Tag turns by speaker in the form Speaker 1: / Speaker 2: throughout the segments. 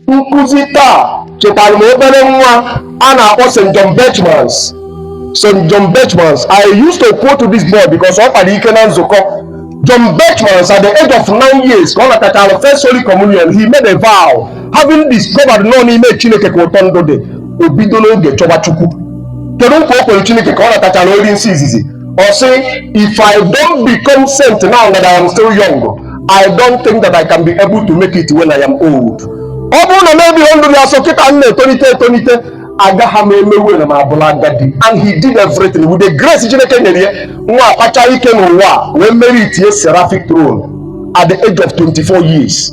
Speaker 1: nkuzi taa chetara m obere nwa a na-akpọ St. John Berchmans St. John Berchmans I used to quote this boy because ọ kpara ike na nzukọ John Berchmans at the age of nine years ka ọ natachara first Holy Communion he made a vow having discovered na ọ n'ime Chineke ka ụtọ ndụ dị o bido n'oge chọba Chukwu kedu nkwa o kwere Chineke ka ọ natachara oriri nsọ izizi ọ sị if I don't become saint now that I am still young I don't think that I can be able to make it when I am old. ọ bụrụ na m ebiro ndụ dị asọ kịta m na-etolite etolite agaghị m emewe na m abụla agadi and he did everything with the grace Chineke nyere ya nwa a kpachaa ike n'ụwa wee meritie seraphic throne at the age of 24 years.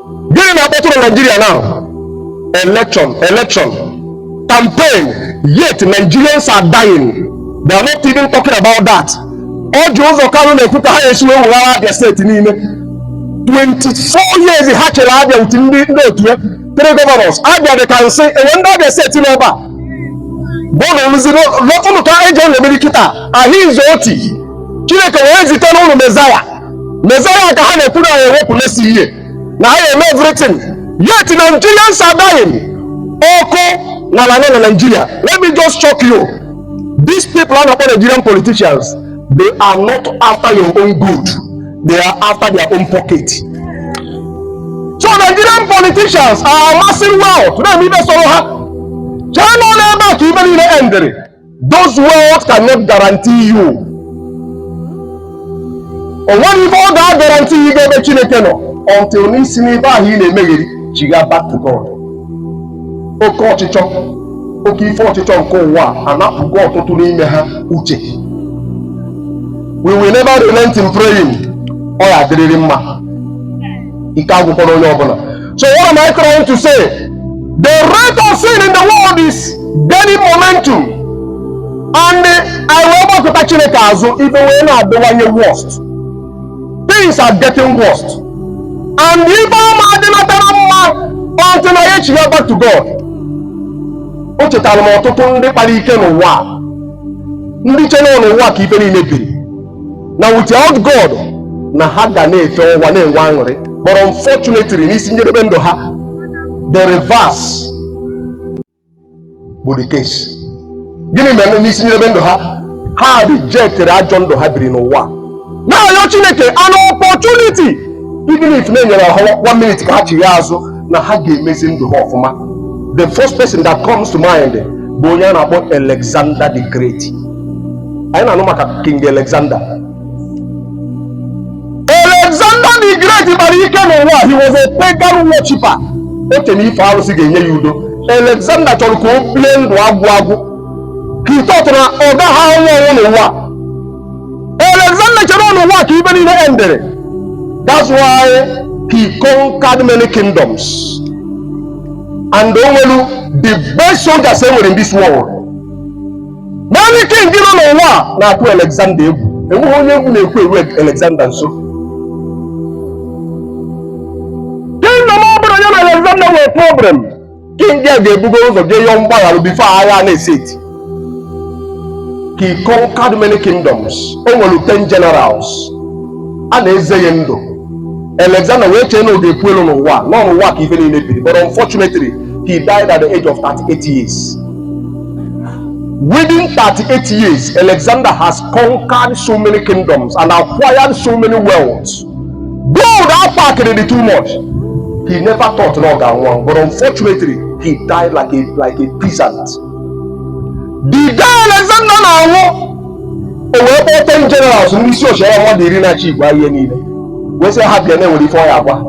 Speaker 1: gịnị na-akpọtụ na naijiria now election campaign yet nigerians are dying they are not even talking about that Orji Uzor Kalu na-ekwu ka ha esi wee weghara abịa steeti n'ime 24 years ha chịrị abịa uti ndị ndị otu ya three governors abịa dị ka nsị enwe ndị abịa steeti n'ebe a bụna rụziri lọtụnụ ka eji ọ na-emeri kịta Alex Otti chineke wee zite unu mezaya Mezaya ka ha na-ekwu na ya ewepụlesi ihe na ha eme everything yet Nigerians are dying ọkụ n'ala na Nigeria let me just shock you these people a na-akpọ Nigerian politicians they are not after your own good they are after their own pocket so Nigerian politicians are amassing wealth na-eme ife sọrọ ha chee na ọ ebe a ka ife niile endịrị those wealth cannot guarantee you o nweghị ife ọ ga-agaranti gị ga ebe chineke nọ until na i si n'ife ahụ ị na-emegheri chigha back to God oke ọchịchọ oke ife ọchịchọ nke ụwa anapụgo ọtụtụ n'ime ha uche we will never relent in praying ọ ya-adịrịrị mma ike agwụkwọrọ onye ọbụla so what am I trying to say the rate of sin in the world is gaining momentum anyị wee gbakụta Chineke azụ ife wee na-adịwanye worst things are getting worst and ife ama adịnatara mma until na anyị echigha back to God o chetara m ọtụtụ ndị kpara ike n'ụwa ndị chere n'ụwa ka ife niile biri na without God na ha ga na-efe ụwa na-enwe aṅụrị but unfortunately n'isi njedebe ndụ ha the reverse bụ the case gịnị mere n'isi njedebe ndụ ha ha rijektịrị ajọ ndụ ha biri n'ụwa na-ayọ Chineke an opportunity even if na e nyere ha one minute ka ha chigha azụ na ha ga-emezi ndụ ha ọfụma the first person that comes to mind bụ onye a na-akpọ Alexander the Great anyị na-anụ maka king alexander alexander the great kpara ike n'ụwa he was a pagan worshiper o che na ife arụsị ga-enye ya udo alexander chọrọ ka o bie ndụ agwụ agwụ he thought na ọ gaghị anwụ ọnwụ n'ụwa alexander chere ọ n'ụwa ka ife niile endere that's why he conquered many kingdoms and o nwere the best soldiers e nwere in this world many kings nọ n'ụwa na-atụ Alexander egwu enweghị onye egwu na-ekwe eru Alexander nso kingdom ọ bụla ya na Alexander nwere problem king ya ga-ebugo ụzọ je yọọ mgbaghara before agha na-esi eti he conquered many kingdoms o nwere 10 generals a na-eze ya ndụ Alexander wee chee na ọ ga-ekwu elu n'ụwa na ọ n'ụwa ka ife niile biri but unfortunately he died at the age of 38 years Within 38 years, Alexander has conquered so many kingdoms and acquired so many wealths. Gold ọ pakịrị dị too much. He never thought na ọ ga-anwụ, but unfortunately, he died like a like a peasant. The day Alexander na-anwụ, o wee kpọọ ten generals ndị isi ọchịagha mmadụ iri na-achịkwa ihe niile wee sị ha bịa na e nwere ife ọ ya-agwa ha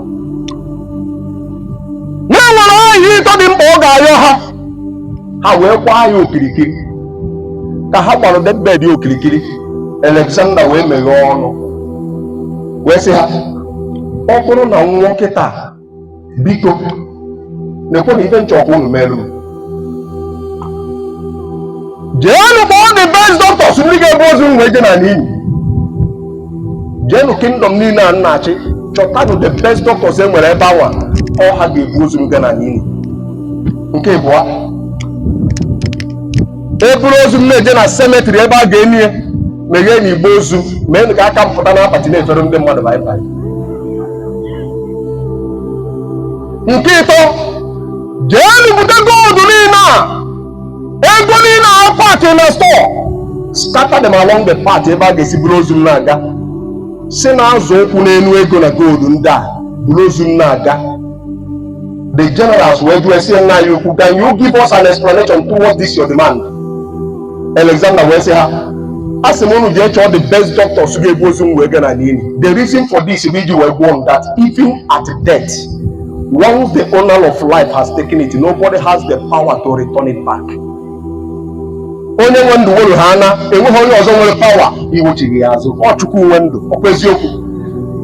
Speaker 1: na e nwere ihe ịtọ dị mkpa ọ ga-ayọ ha ha wee kwaa ya okirikiri ka ha gbara deathbed ya okirikiri Alexander wee meghee ọnụ wee sị ha ọ bụrụ na m nwụọ kịta biko nekwanụ ife m chọ ka unu meerụ m jeenụ kpọọ the best doctors ndị ga-ebu ozu m wee je na n'ili jeenụ kingdom niile a m na-achị chọtanụ the best doctors e nwere ebe anwa ọ ha ga-ebu ozu m gaa na n'ili nke ịbụọ e buru ozu m na-eje na cemetery ebe a ga-eni ya megheenụ igbe ozu mee ka aka m pụta n'akpati na-efere ndị mmadụ bye bye nke ịtọ jeenụ bute gold niile a ego niile a paakị na store scatter them along the path ebe a ga-esi buru ozu m na-aga si na-azọ ụkwụ n'elu ego na gold ndị a buru ozu m na-aga the generals wee jụọ ya sị nna anyị ukwu can you give us an explanation towards this your demand alexander wee sị ha a sị m unu jee chọọ the best doctors ga-ebu ozu m wee gaa na n'ili the reason for this bụ iji wee gwa unu that even at death Once the owner of life has taken it, nobody has the power to return it back. Onye nwe ndụ were ha na enweghị onye ọzọ nwere pawa iwechigha ya azụ ọ Chukwu nwe ndụ ọkwa eziokwu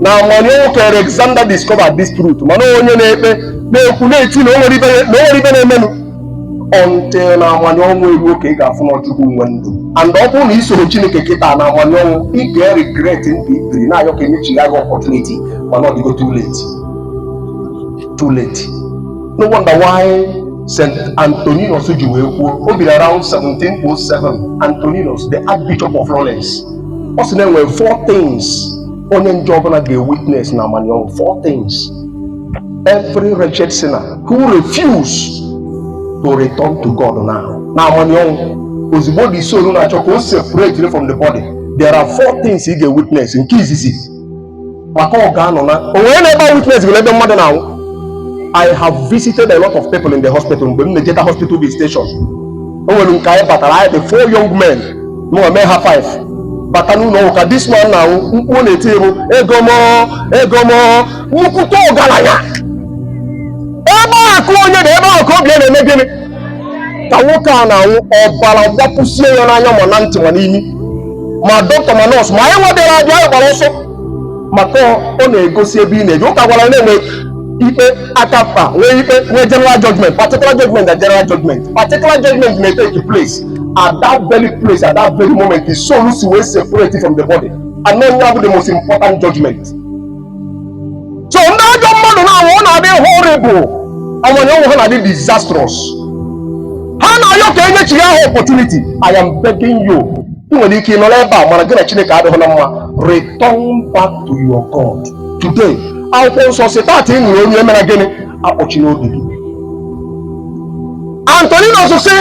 Speaker 1: n'amanị ọnwụ ka Alexander discovered this truth mana onye na-ekpe na-ekwu na-eti na o nwere ibe na-emenụ until na amanị ọnwụ eruo ka ị ga-afụ na ọ Chukwu nwe ndụ and ọ bụrụ na i soro Chineke kịta n'amanị ọnwụ ị ga-eregret ndụ i biri na-ayọ ka enyechigha gị opportunity mana ọ dịgo too late too late no wonder why St. Antoninus ji wee kwuo o biri around 1707 Antoninus the Archbishop of Florence ọ sị na enwere four things onye njọ ọbụla ga-ewitness n'amanị ọnwụ four things every wretched sinner who refuse to return to God now n'amanị ọnwụ ozigbo the soul na-achọ ka o separate from the body there are four things ị ga-ewitness nke izizi maka ọ ga-anọ na o nwere na ebe a witnessịrị ebe mmadụ na-anwụ I have visited a lot of people in the hospital mgbe m na-ejeta hospital visitation o nwere nke anyị batara anyị dị four young men mụnwa mee ha five bata n'ụlọ ọgwụ ka this man na-anwụ mkpu ọ na-eti bụ ego m ego m nnukwute ọgaranya ebe akụ onye dị ebe ahụ ka obi ya na-eme gịnị ka nwoke a na-anwụ ọbara gbapụsie ya n'anya ma na ntị ma n'imi ma doctor ma nurse ma anyị nwa bịara abịa anyị gbara ọsọ maka ọ na-egosi ebe ị na-eje ụka gwara na enwe ikpe aka mkpa nwee ikpe nwee general judgment particular judgment na general judgment particular judgment may take place at that very place at that very moment the soul si wee separate from the body and then you have the most important judgment so ndị ajọ mmadụ na-anwụ ọ na-adị horrible amanị ọnwụ ha na-adị disastrous ha na-ayọ ka enyechigha ha opportunity I am begging you ị nwere ike ịnọrọ ebe a mana gị na Chineke adịghị na mma return back to your God today akwụkwọ nsọ sị taata ị nụ onu ya emena gịnị akpọchina obi gị Antoninus sị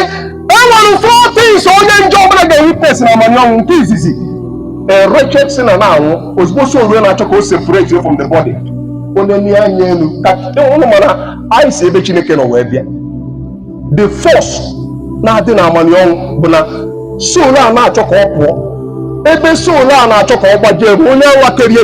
Speaker 1: e nwere four things onye njọ ọbụla ga-ewitness n'amanị ọnwụ nke izizi a wretched sinner na-anwụ ozigbo soul ya na-achọ ka o separatie from the body onye nee anya elu ka unu ma na anyị si ebe Chineke nọ wee bịa the force na-adị n'amanị ọnwụ bụ na soul a na-achọ ka ọ pụọ ebe soul a na-achọ ka ọ gbaje be onye nwa kere ya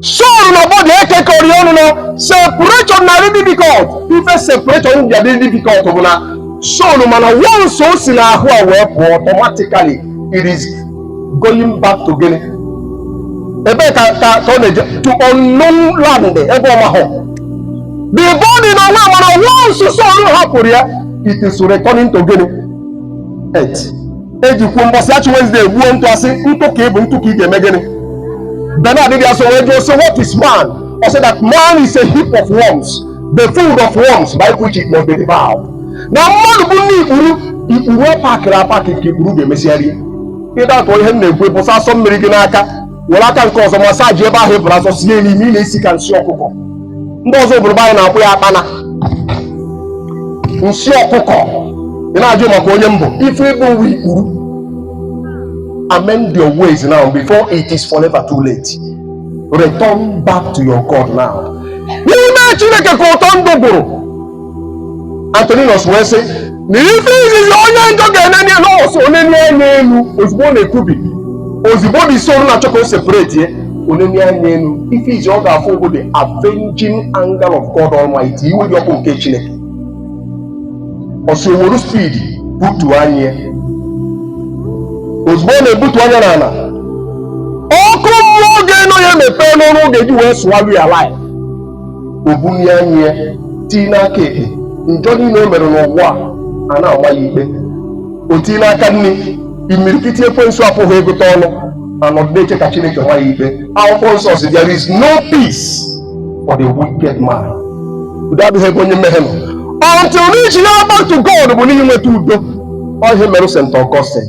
Speaker 1: Soul na body ekekọrị ọnụ na separation na-adị difficult ife separation ji adị difficult bụ na soul ma na once o si n'ahụ a wee pụọ automatically it is going back to gịnị ebe ka ka ka ọ na-eje to unknown land ebe ọ mahụ the body na nwa ma na once soul hapụrụ ya it is returning to gịnị earth eji kwuo mbọsị Ash Wednesday gbuo ntụ a sị ntụ ka ị bụ ntụ ka ị ga-eme gịnị Bernard dị asọ wee jụọ sị what is man ọ sị that man is a heap of worms the food of worms by which it must be devoured na mmadụ bụ nni ikpuru ikpuru a pakịrị apakị ka ikpuru ga-emesịa rie ị doubt ihe m na-ekwu ị bụsa asọ mmiri gị n'aka were aka nke ọzọ massage ebe ahụ ị bụrụ asọ sie n'imi ị na-esi ka nsị ọkụkọ ndị ọzọ ọ bụrụ be anyị na-akpọ ya akpana nsị ọkụkọ ị na-ajụ maka onye m bụ ife ị bụ bụ ikpuru amend your ways now before it is forever too late return back to your God now n'ime Chineke ka ụtọ ndụ gwụrụ Antoninus wee sị na ife izizi onye njọ ga-enene anya ọ sị o nene anya elu ozugbo ọ na-ekubi ozugbo the soul na-achọ ka ọ separate ya o nene anya elu ife izi ọ ga-afụ bụ the avenging anger of God Almighty iwe dị ọkụ nke Chineke ọ sị o were speed butu anya ya ozugbo ọ na-ebutu anya n'ala ọkụ mmụọ ga-eno ya mepee ọnụ ọ ga-eji wee swallow ya alive o bulie anya ya tii n'aka ekpe njọ niile o mere n'ụwa ana-ama ya ikpe o tii n'aka nni imirikiti ekwensu a pụghị ịgụta ọnụ anọdụ na-eche ka Chineke maa ya ikpe akwụkwọ nsọ sị there is no peace for the wicked man udo adịghị ebe onye mmehie nọ until i chigha back to God bụ n'ihi nweta udo ọ ihe mere St. Augustine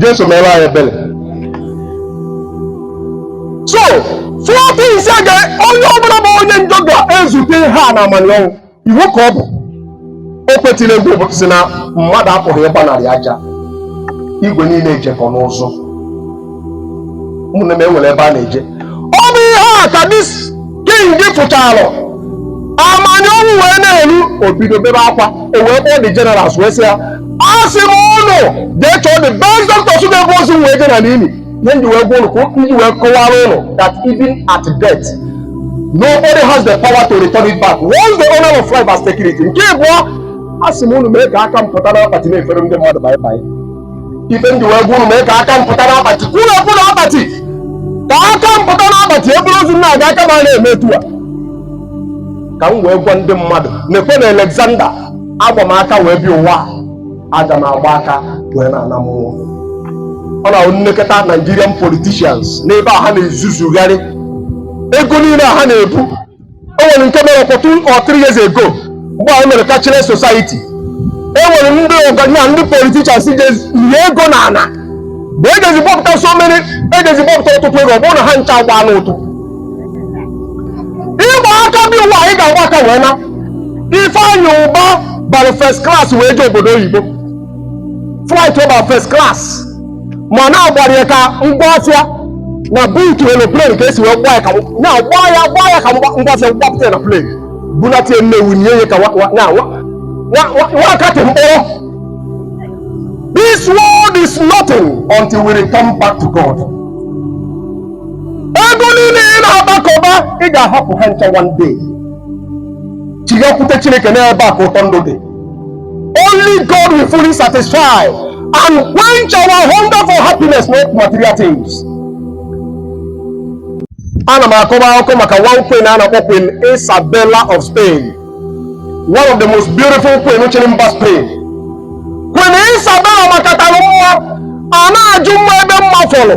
Speaker 1: Jesu mere anyị ebere so four things a ka onye ọbụla bụ onye njọ ga-ezute ha n'amanị ọnwụ iwu ka ọ bụ nwoke tiri egwu ụbọ tie sị na mmadụ apụghị ịgbanarị aja igwe niile ejekọ n'ụzọ ụmụnne m e nwere ebe a na-eje ọ bụ ihe a ka this king ji fụchara amanị ọnwụ ya na-elu o bido bebe akwa o wee kpọọ the generals wee sị ya asị m ụnụ jee chọọ the best doctors ga-ebu ozu m wee je na n'ili ihe m ji wee gwa ụnụ ka m ji wee kọwara ụnụ that even at death nobody has the power to return it back once the owner of life has taken it nke abụọ asị m ụnụ mee ka aka m pụta n'akpati na-efere ndị mmadụ bye-bye ife m ji wee gwa ụnụ mee ka aka m pụta n'akpati kwuru ekwu n'akpati ka aka m pụta n'akpati e buru ozu m na-aga aka m ana-eme etu a ka m wee gwa ndị mmadụ na even Alexander agba m aka wee bịa ụwa aga m agba aka wee naa ana mmụọ ọ na-abụ m nekata Nigerian politicians n'ebe a ha na-ezuzugharị ego niile a ha na-ebu o nwere nke mere about two or three years ago mgbe e mere cashless society e nwere ndị ọgaranya ndị politicians je nie ego n'ana bụ e jezi bọpụta so many e jezi bọpụta ọtụtụ ego ọ bụrụ na ha ncha agbaana ụtụ ị gba aka bịa ụwa anyị ga-agba aka wee naa Ifeanyị Ụba bara first class wee jee obodo oyibo flight over first class mana a gbara ya ka ngwa afịa na boot aeroplane ka e si wee gbaa ya ka na gbaa ya gbaa ya ka ngwa afịa gbapụta na plane bunata ya Nnewi nie ya ka nwakatị mkpọrọ this world is nothing until we return back to God ego niile ị na-agbakọba ị ga-ahapụ ha ncha one day chighakwute chineke n'ebe a ka ụtọ ndụ dị Only God will fully satisfy and quench our hunger for happiness, not material things. Ana m akọba akụkọ maka one queen a na-akpọ Queen Isabella of Spain, one of the most beautiful queen chịrị mba Spain. Queen Isabella makatara mma a na-ajụ mma ebe mma fọrọ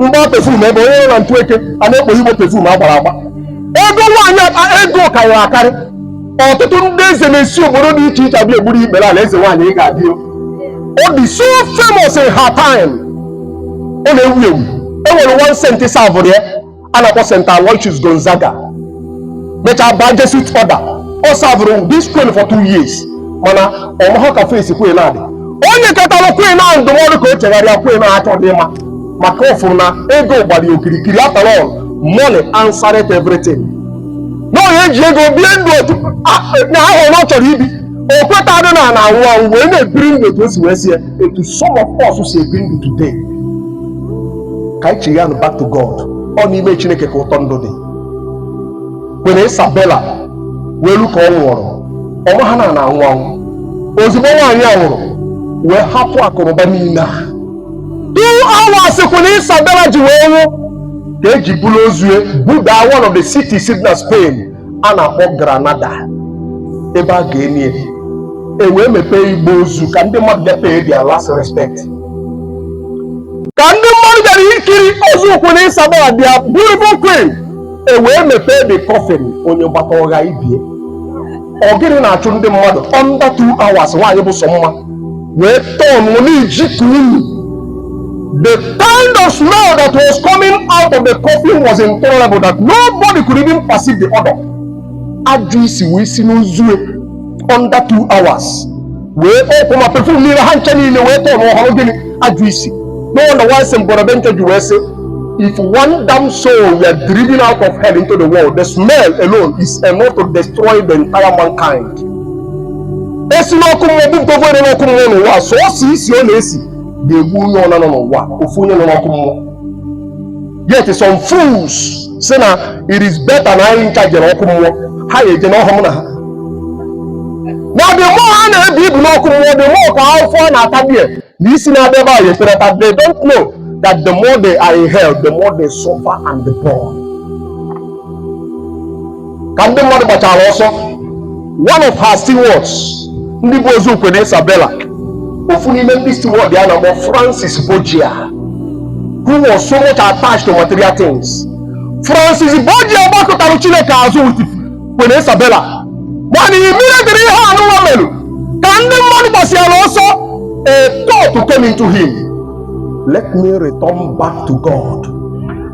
Speaker 1: mgba perfume ebe onye nọ na ntụ eke a na-ekpo igbo perfume a gbara agba ego nwaanyị akpa ego karịrị akarị ọtụtụ ndị eze na-esi obodo dị iche iche abịa egburu ikpere ala eze nwaanyị ị ga-adị o. ọ dị so famous in her time ọ na-ewu ewu e nwere one saint savụrụ ya a na-akpọ St. Aloysius Gonzaga mechaa baa Jesuit order ọ savụrụ this queen for two years mana ọ maha ka face queen na-adị e nyekatara queen ahụ ndụmọdụ ka o chegharịa queen ahụ achọghị ịma maka ọ fụrụ na ego gbara ya okirikiri after all money answered everything na onye ji ego bie ndụ otu na ahụ na ọ chọrọ ibi o kwetadị na a na-anwụ anwụ wee na-ebiri ndụ otu o si wee sọ ya etu some of us si ebi ndụ today ka anyị chighanụ back to God ọ n'ime Chineke ka ụtọ ndụ dị Queen Isabella wee lu ka ọ nwụrụ ọ maha na a na-anwụ anwụ ozugbo nwaanyị a nwụrụ wee hapụ akụnụba niile a two hours Queen Isabella ji wee nwụ ka e ji buru ozu ya buda one of the cities dị na Spain a na-akpọ Granada ebe a ga-eni ya e wee mepee igbe ozu ka ndị mmadụ bịa pay their last respect ka ndị mmadụ bịara ikiri ozu Queen Isabella their beautiful queen e wee mepee the coffin onye gbata ọ gha ibe ya ọ gịnị na-achụ ndị mmadụ under two hours nwaanyị bụ sọ mma wee turn na-eji ka unyi the kind of smell that was coming out of the coffin was intolerable that nobody could even perceive the odor ajụ isi wee si n'ozu ya under two hours wee kpọọ ọkụ ma perfume niile ha ncha niile wee tọọ n'ọhụrụ gịnị ajọ isi no wonder why Saint Bonaventure ji wee sị if one damned soul were driven out of hell into the world the smell alone is enough to destroy the entire mankind e si n'ọkụ mmụọ bupụta ofu onye n'ọkụ mmụọ n'ụwa sọọsọ isi ọ na-esi ga-egbu onye ọbụla nọ n'ụwa ofu onye nọ n'ọkụ mmụọ yet some fools sị na it is better na anyị ncha jere ọkụ mmụọ ha ya eje n'ọhụm na ha na the more ha na-ebu ibu n'ọkụ mmụọ the more ka afụfụ ha na-ata bie na isi na-abịa ebe a ya etereta they don't know that the more they are in hell the more they suffer and the poor ka ndị mmadụ gbasịara ọsọ one of her stewards ndị bu ozu Queen Isabella ofu n'ime ndị steward ya a na-akpọ Francis Borgia who was so much attached to material things Francis Borgia gbakụtara Chineke azụ with Queen Isabella mana immediately ihe anụwa mere ka ndị mmadụ gbasịara ọsọ a thought came into him let me return back to God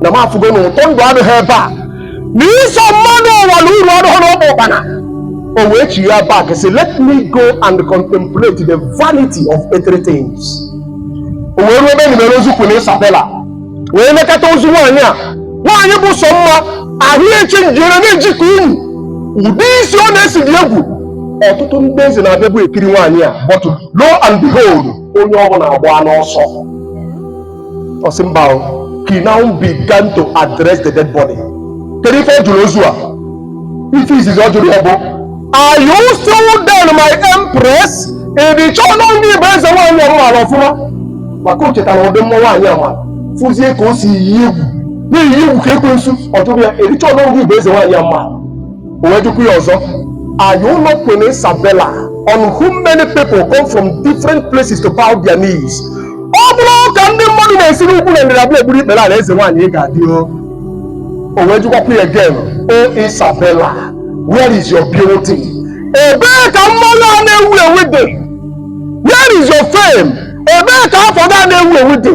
Speaker 1: na m afụgo na ụtọ ndụ adịghị ebe a na iso mmadụ ụwa na uru adịghị n'ọkpa ụkpana o wee chighaa back sị let me go and contemplate the vanity of earthly things o wee ruo ebe e nibere ozu Queen Isabella wee lekata ozu nwaanyị a nwaanyị bụ sọ mma ahụ ya e changere na-eji ka unyi ụdị isi ọ na-esi dị egwu ọtụtụ ndị eze na-abịabu ekiri nwaanyị a but lo and behold onye ọ bụla agba n'ọsọ ọ sị mba o, he now began to address the dead body kedu ife ọ jụrụ ozu a ife izizi ọ jụrụ ya bụ are you still there my empress ị dị sure na ọ ngị bụ eze nwaanyị a maara ọfụma maka o chetara ụdị mma nwaanyị a ma fụzie ka o si eyi egwu na-eyi egwu ka ekwensu ọ jụrụ ya ị dị sure na ọ ngị bụ eze nwaanyị a maara wee jụkwa ya ọzọ are you not Queen Isabella on whom many people come from different places to bow their knees ọ bụrọ ka ndị mmadụ na-esi n'ugwu na ndịda abịa egburu ikpere ala eze nwaanyị ị ga-adị o o wee jụkwakwa ya again o Isabella where is your beauty ebee ka mma gị a na-ewu ewu dị where is your fame ebee ka afa gị a na-ewu ewu dị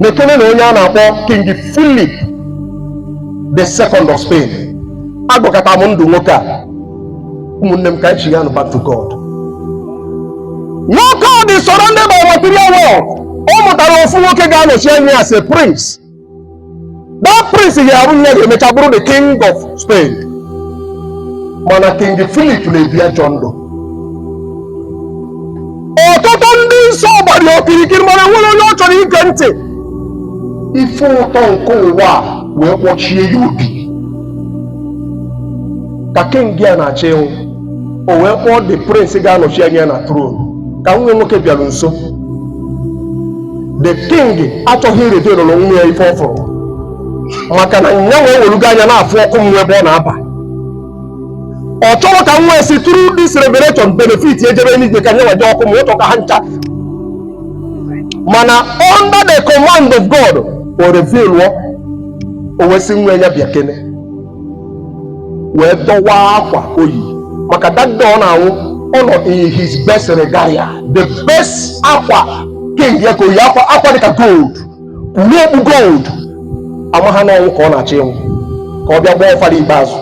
Speaker 1: nekenenụ onye a na-akpọ King Philip the second of Spain agụkata m ndụ nwoke a ụmụnne m ka anyị chigha back to God nwoke a dị surrounded by material world ọ mụtara ofu nwoke ga-anọchi anya ya as a prince that prince ga-abụ onye ga-emecha bụrụ the king of Spain mana king Philip na-ebi ajọ ndụ ọtụtụ ndị nsọ gbara okirikiri mana o nwerọ onye ọ chọrọ ige ntị ife ụtọ nke ụwa wee kpọchie ya obi ka king a na-achọ ịnwụ o wee kpọọ the prince ga-anọchi anya ya na throne ka nwa ya nwoke bịara nso the king achọghị irevealara nwa ya ife ọ fụrụ maka na nya nwa ewelugo anya na-afụ ọkụ mmụọ ebe ọ na-aba ọ chọrọ ka nwa ya si through this revelation benefit ejebe n'igwe ka nya nwa eje ọkụ mmụọ ọ chọrọ ka ha ncha mana under the command of god o reveal o wee sị nwa ya bịa kene wee dọwaa akwa o yi maka that day ọ na-anwụ ọ nọ in his best regalia the best akwa king ya ka o yi akwa dịka gold kpuru okpu gold ama ha na ọnwụ ka ọ na-achọ ịnwụ ka ọ bịa gbaa ọfara ikpeazụ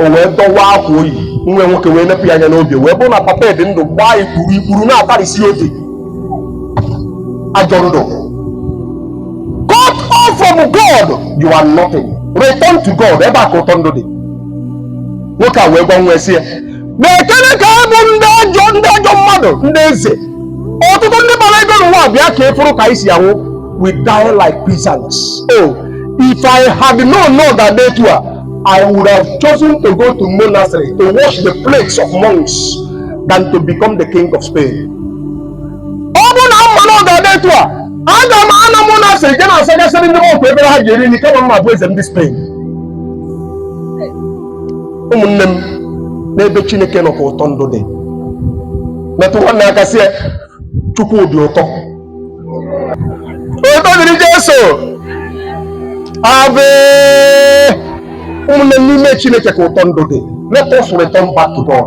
Speaker 1: o wee dọwaa akwa o yi nwa ya nwoke wee nepụ ya anya n'obi wee bụrụ na papa ya dị ndụ gbaa ikpuru ikpuru na-atarịsị obi ajọ ndụ cut off from God you are nothing return to God ebe a ka ụtọ ndụ dị nwoke a wee gwa nwa ya sị ya nekene ka ọ bụ ndị ajọ mmadụ ndị eze ọtụtụ ndị bara ego n'ụwa bịa ka ị fụrụ ka anyị si anwụ we die like peasants oh if I had known na ọ ga-adị etu a I would have chosen to go to monastery to wash the plates of monks than to become the king of Spain ọ bụrụ na m ma na ọ ga-adị etu a aga m ana monastery je na-asachasịrị ndị monk efere ha ji eri nri kama m abụ eze ndị Spain ụmụnne m n'ebe Chineke nọ ka ụtọ ndụ dị metụ nwanne aka sị ya Chukwu dị ụtọ otito dịrị Jesu ave ụmụnne m n'ime Chineke ka ụtọ ndụ dị let us return back to God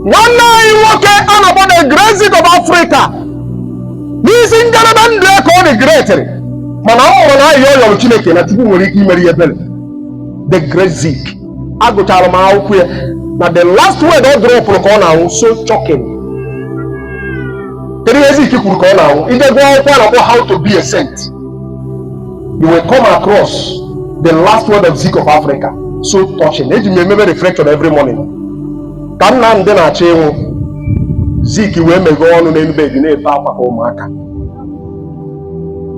Speaker 1: nwanne anyị nwoke a na-akpọ the Great Zik of Africa n'isi njedebe ndụ ya ka ọ dị greatịrị mana m ma na ayịyọ ọ yọrọ Chineke na Chukwu nwere ike imere ya ebere the Great Zik agụchara m akwụkwọ ya na the last word ọ dropụrụ ka ọ na-anwụ so shocking kedu ihe Zik kwuru ka ọ na-anwụ i je gụọ akwụkwọ a na-akpọ how to be a saint you will come across the last word of Zik of Africa so touching eji m ya emebe reflection every morning ka Nnamdi na-achọ ịnwụ Zik wee meghee ọnụ n'elu bed na-ebe akwa ka ụmụaka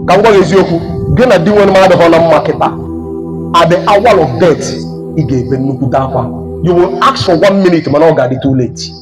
Speaker 1: ka m gwa gị eziokwu gị na Dinwenụ m adịhọ na mma kịta at the hour of death ị ga-ebe nnukwute akwa you will ask for one minute mana ọ ga-adị too late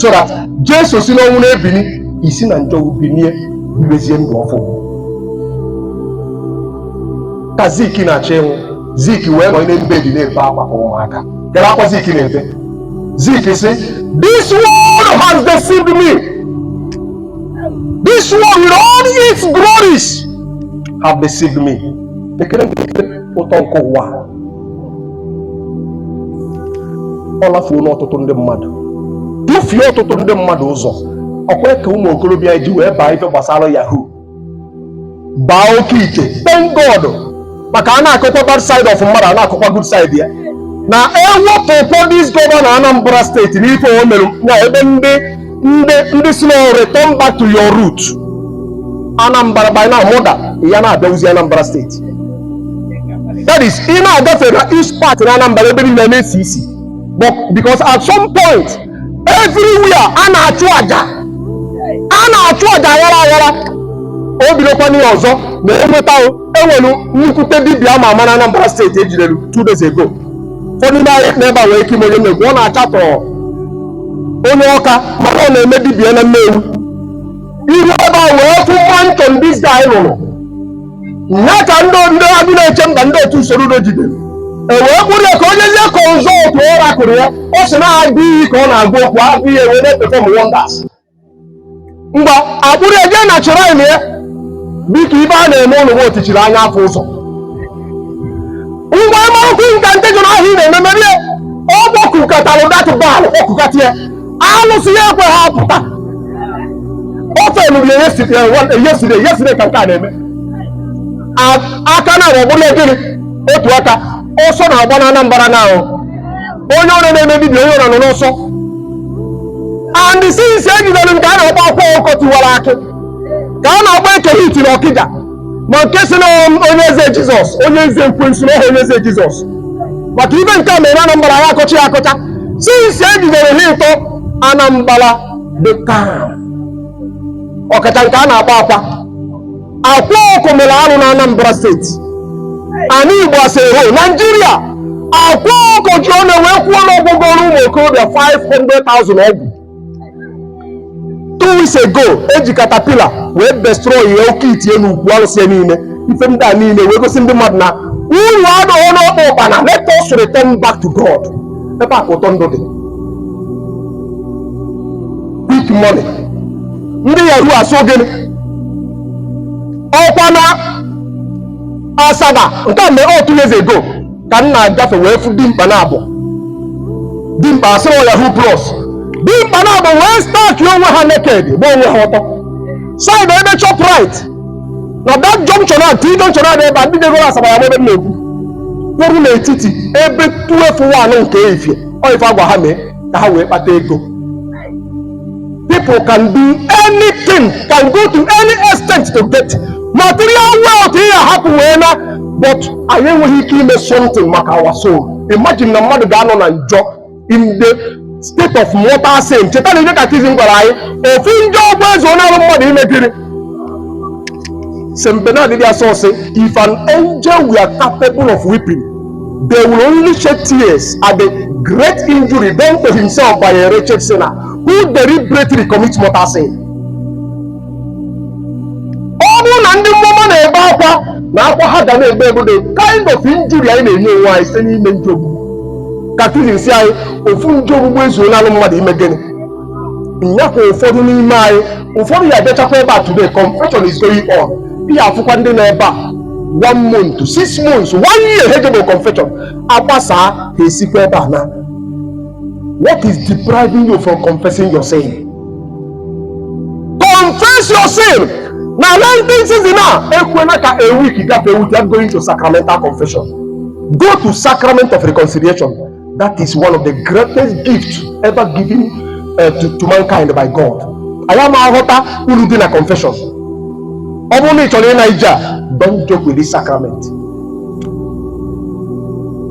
Speaker 1: so that jesu si n'ọnwụ na-ebini i si na njọ binie bibezie ndụ ọfụụ ka zik na-achọ ịnwụ zik wee nọ n'elu bed na-ebe akwa ka ụmụaka kedu akwa zik na-ebe zik sị this world has deceived me this world with all its glories have deceived me kedu ụtọ nke ụwa ọ lafuo n'ọtụtụ ndị mmadụ dufie ọtụtụ ndị mmadụ ụzọ ọkwa ka ụmụ okorobịa ji wee baa ife gbasara yahoo baa oke ite thank God maka a na-akọkwa bad side of mmadụ a na-akọkwa good side ya na ewepụkwa this governor Anambra steeti n'ife o mere na ebe ndị ndị sị na return back to your root Anambra by now mmadụ ya na-abịawuzi Anambra steeti that is ị na-agafe na east part na Anambra ebe niile na-esi isi but because at some point everywhere a na-achụ aja a na-achụ aja aghara aghara o bidokwa n'ihe ọzọ na enweta enwelu nnukwute dibia ama ama na Anambra steeti ejidere two days ago ụfọdụ ndị anyị nọ ebe a nwere ike ịma onye m na-ekwu ọ na-achatọ onye Ọka mana ọ na-eme dibia na Nnewi iru ebe a wee fụ mansion this guy rụrụ ya ka ndị Agụnechemba ndị otu usoro udo jidere e wee kpụrụ ya ka o jezie consult oracle ya ọ sị na agụ iyi ka ọ na-agwa okwu agụ iyi wee na-eperform wonders mgbe akpụrụ ya jee na shrine ya dịka ife a na-eme ụlọ otichiri anya afụ ụzọ ngwa miracle nka ndị jụrụ ahụ ị na-eme mebe ọ kpọkukatara that Baal kpọkukata ya alụsị ya ekwehọ apụta ọ ife a nụrụ yesterday ka nke a na-eme aka na ọ bụla gịnị otu aka ọsọ na-agba na Anambra now onye ọbụna na-eme dibia onye ọbụna nọ n'ọsọ and since ejidere nke a na-akpọ Akwa Ọkụkọ Tiwara Akị nke a na-akpọ Eke Hit na Ọkịja ma nke sị na onye eze jizọs onye eze ekwensu na ọ họ onye eze jizọs maka ife nke a mere anambra ya akọcha ya akọcha since ejidere ha ịtọ Anambra dị calm ọkacha nke a na-akpọ akwa Akwa Ọkụkọ mere arụ na Anambra steeti. Ana Igbo as a whole Naijiria Akwa Ọkụkọ ji ọnụ ya wee kwuo na ọ gwọgoro ụmụ okorobịa 500,000 ọgwụ. Two weeks ago eji caterpillar wee destroy ya oke ite nnukwu arụsị niile ife ndị a niile wee gosi ndị mmadụ na uru adịghị n'ọkpa ụkpana let us return back to God ebe a ka ụtọ ndụ dị quick money ndị Yahoo asụ gịnị ọkwa na asaba nke a mere two years ago ka m na-agafe wee fụ dimkpa na abụọ dimkpa a sịrị ọ Yahoo Plus dimkpa na abụọ wee stark onwe ha naked gba onwe ha ọtọ side ebe Shoprite na that junction a T junction a dị ebe a ndị jegoro Asaba ya-ama ebe m na-ekwu kwụrụ n'etiti ebe twelve one nke efie ọ ife agwa ha mee ka ha wee kpata ego People can do anything, can go to any extent to get material wealth ị ya-ahapụ wee naa but anyị enweghị ike ime something maka our soul. Imagine na mmadụ ga-anọ na njọ in the state of mortal sin. Cheta na ihe katikizim gwara anyị ofu njọ ogbugbu ezuolalụ mmadụ ime gịnị St. Bernard did also say, if an angel were capable of weeping, they will only shed tears at the great injury done to himself by a wretched sinner who deliberately commits mortal sin. Ọ bụrụ na ndị mmụọ ọma na-ebe akwa na akwa ha ga na-ebe bụ the kind of injury anyị na-enye onwe anyị site n'ime njọ ogbugbu katikizim sị anyị ofu njọ ogbugbu ezuolalụ mmadụ ime gịnị nyakwa ụfọdụ n'ime anyị ụfọdụ ya-abịachakwa ebe a today confession is going on ị ya-afụkwa ndị nọ ebe a one month six months one year ha ejebero confession a gbasaa ha esikwa ebe a naa what is depriving you from confessing your sin confess your sin na lenten season a ekwena ka a week gafee without going to sacramental confession go to sacrament of reconciliation That is one of the greatest gifts ever given uh, to, to mankind by God. anyị ama aghọta uru dị na confession ọ bụrụ na ị chọrọ ịna ije a don't joke with this sacrament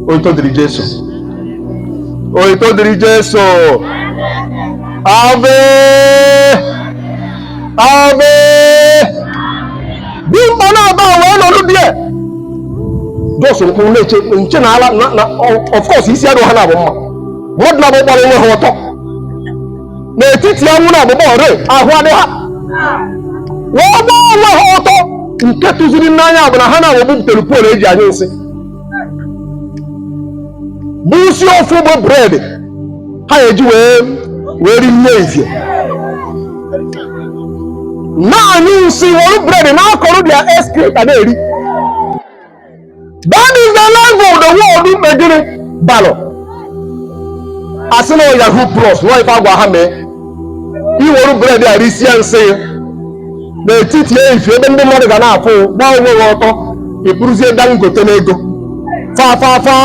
Speaker 1: otito dịrị jesu otito dịrị jesu ave Ebe dimkpa naabọ wee nọlụ dia. Just nkwụ na-eche nche na ala na na of course isi adịrọ ha naabọ mma. Mmadụ naabọ gbara onwe ha ọtọ. N'etiti anwụ na abụba ọrịa ahụ adị ha. Wee gbaa onwe ha ọtọ nke tụziri m n'anya bụ na ha naabọ butere poolu e ji anyụ nsị. bụ isi ofu bụ bred ha eji wee wee rie nri efifie na-anyụ nsị werụ bred na-ekoro their excreta na-eri that is the level the world mebiri baluo a sị na yahoo plus nwa ife a gwa ha mee i were bred a risie nsị n'etiti efifie ebe ndị mmadụ ga na-afụ gbaa onwe gị ọtọ ị bụrụzie dangote n'ego fafafa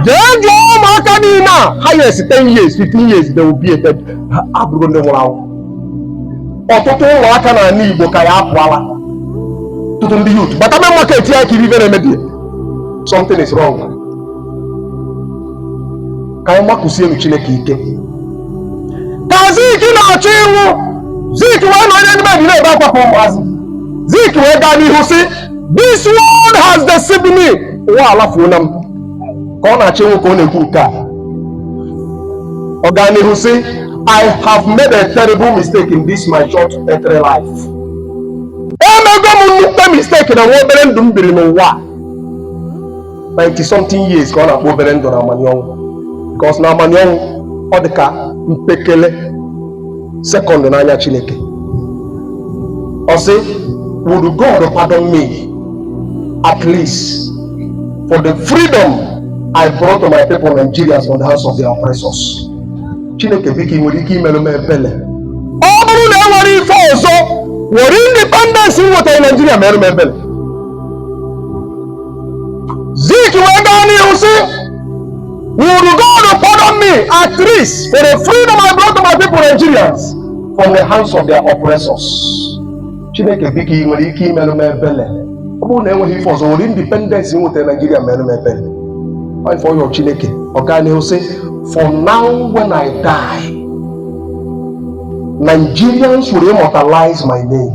Speaker 1: jee jụọ ụmụaka niile a 5 years 10 years 15 years they will be a dead ha abụrụ ndị nwụrụ anwụ ọtụtụ ụmụaka n'ala igbo ka ya-apụ ala ọtụtụ ndị youth bata main market ya kiri ife na-emebi something is wrong ka anyị makụsienụ chineke ike ka zik na-achọ ịnwụ zik wee nọ onye ndị mmadụ na-ebe akwa ka ụmụazị zik wee gaa n'ihu sị this world has deceived me ụwa alafuola m ka ọ na-achọ ịnwụ ka ọ na-ekwu nke a ọ gaa n'ihu sị i have made a terrible mistake in this my short earthly life emego m nnukwu mistake na nwa obere ndụ m biri n'ụwa a. 90 something years ka ọ na-akpọ obere ndụ n'amanị ọnwụ because n'amanị ọnwụ ọ dị ka mpekele sekọndụ n'anya chineke ọ sị would god pardon me at least for the freedom i brought to my people nigerians from the hands of their oppressors chineke biko ị nwere ike imerụ m ebele ọ bụrụ na enwerọ ife ọzọ were independence m nwetara naijiria meerụ m ebele Zik wee gaa n'ihu sị Would God pardon me at least for the freedom I brought to my people Nigerians from the hands of their oppressors? Chineke biko ị nwere ike imerụ m ebele ọ bụrụ na enweghị ife ọzọ were independence m nwetara Naijiria merụ m ebele Ọ ife ọ yọ Chineke ọ gaa n'ihu sị For now when I die Nigerians will immortalize my name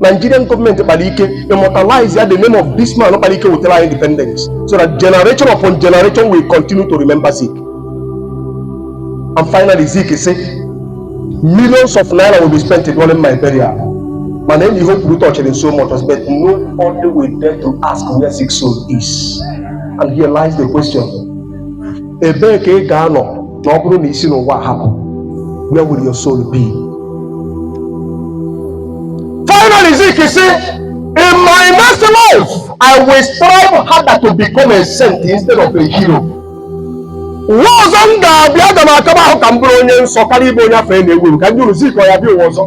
Speaker 1: Nigerian gọọmenti kpara ike immortalize ya the name of this man kpara ike wetara anyị independence so that generation upon generation will continue to remember Zik and finally Zik sị millions of naira will be spent during my burial ma naanị ihe o kwuru tọchịrị m so much but nobody will dare to ask where Zik's soul is and here lies the question ebee ka ị ga-anọ na ọ bụrụ na i si n'ụwa a pụọ where will your soul be finally zik sị in my next life i will strive harder to become a saint instead of a hero ụwa ọzọ m ga-abịa aga m akaba ahụ ka m bụrụ onye nsọ karịa ịbụ onye afa ya na-ewu ewu ka m jụọ unu zik ọ ya-abịa ụwa ọzọ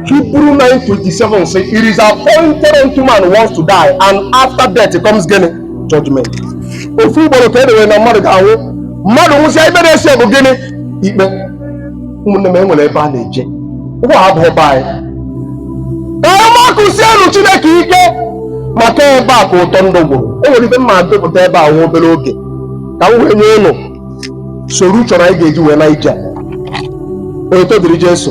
Speaker 1: Hebrew 9:27 say, It is appointed unto man once to die, and after death comes gịnị. judgment ofu ugboro ka e dewere na mmadụ ga-anwụ mmadụ nwụsịa ife na-eso bụ gịnị ikpe ụmụnne m e nwere ebe a na-eje ụwa abụrọ be anyị makụsienụ chineke ike maka ebe a ka ụtọ ndụ gwụrụ e nwere ife m ma-edepụta ebe a nwa obere oge ka m wee nye ụnụ soro chọrọ anyị ga-eji wee na ije a. otito dịrị jesu